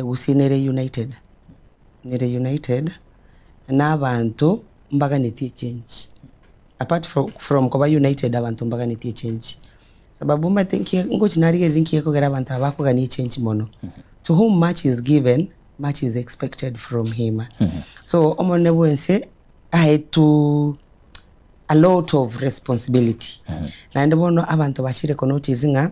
gusii ne reunited, ne reunited na abanto mbaganetie echange, apart fro from koba united abanto mbaganetie echange, sababu omanyete nkie ngochi narigereria nkie ekogera abanto aba bakogania echange mono, to whom much is given, much is expected from him, so omonene bwense aetu a lot of responsibility, naende bono abanto bachire konotice ng'a.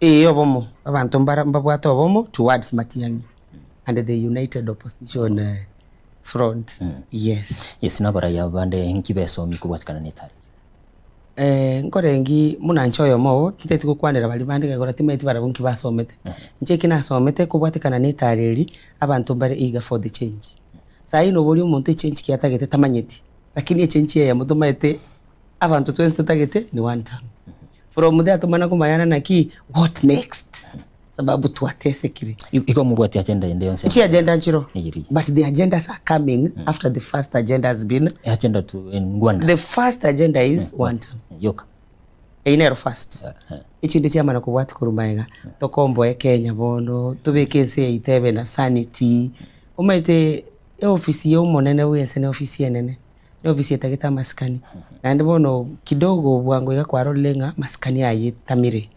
Ee obomo, abanto mbara mbabwate obomo towards Matiang'i and the united opposition eh, front, yes. Yes, na abaraiya bande inki besomi kobwatekana na etari? Eh, nkorengi buna inche oyomo oo, tinteti gokwanera baria bande egekora timaeti barabwo inki basomete. Inche eki nasomete kobwatekana na etari eri, abanto mbare eager for the change. Saii noboria omonto echange ki atagete tamanyeti, lakini echange eyemo tomaete abanto twensi totagete ni one tongue. From there tomana komayanana ki what next sababu twatesekire. I- Igo mobwati agenda ende yonsi. Chi agenda nchiro Eyiri. but the agendas are coming after the first agenda has been Agenda tu en Ngwanda. the first agenda is one tongue. Yoka. Eyi nero first. Eh, eh. echinde chiamana kobwati korwa maega tokomboe kenya bono tobeke ense yaito ebe na sanity omaete eofisi ya omonene bwense ne ofisi enene N'ofisi etagete amasikani, naende bono kidogo bwango iga kwarorire ng'a masikani aya etamire.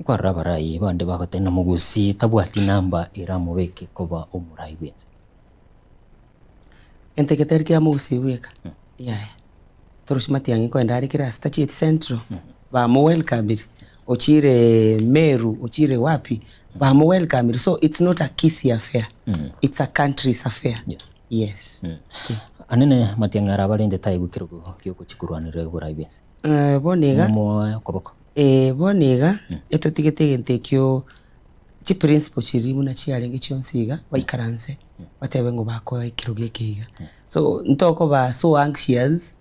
Nkwarora abarai bande bagoteba ng'a Mogusii tabwati namba eramobeke koba omorai bwense. Gento eke tari kia Mogusii bweka, yaya. Torosie matiang'i nkoende are kere ase tachieti Central, bamowelkamiri, ochireee Meru, ochire wapi, bamowelkamiri, so it's not a Kisii affair, it's a country's affair. Yes. Anene matiang'a ara abarente taigwe ekerogo giogochia korwanera oborai bw'ense. Eh, bono iga Momoe okoboko. Eh, bono iga etotigete egento ekio chiprinciple chiria buna chiarenge chionsi iga baikaranse batebe ng'o bakoa ekerogo eke iga so ntokoba so anxious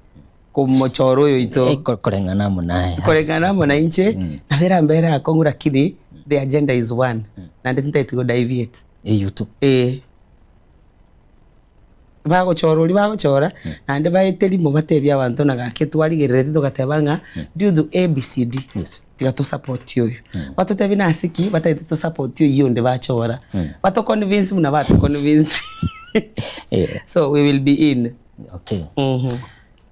komochora oyo oito Eh, ko- koreng'ana amo naye. koreng'ana amo nainche nabo erambere akong'u lakini the agenda is one naende tintaeti go deviate Eyio tu. eh. Bagochora oria bagochora, naende baete rimo batebie abanto ng'a gaki twarigerereti togateba ng'a due to A, B, C, D tiga to support oyo. Batotebie nase ki batagete to support oyio onde bachora. Bato convince buna ba to convince so we will be in.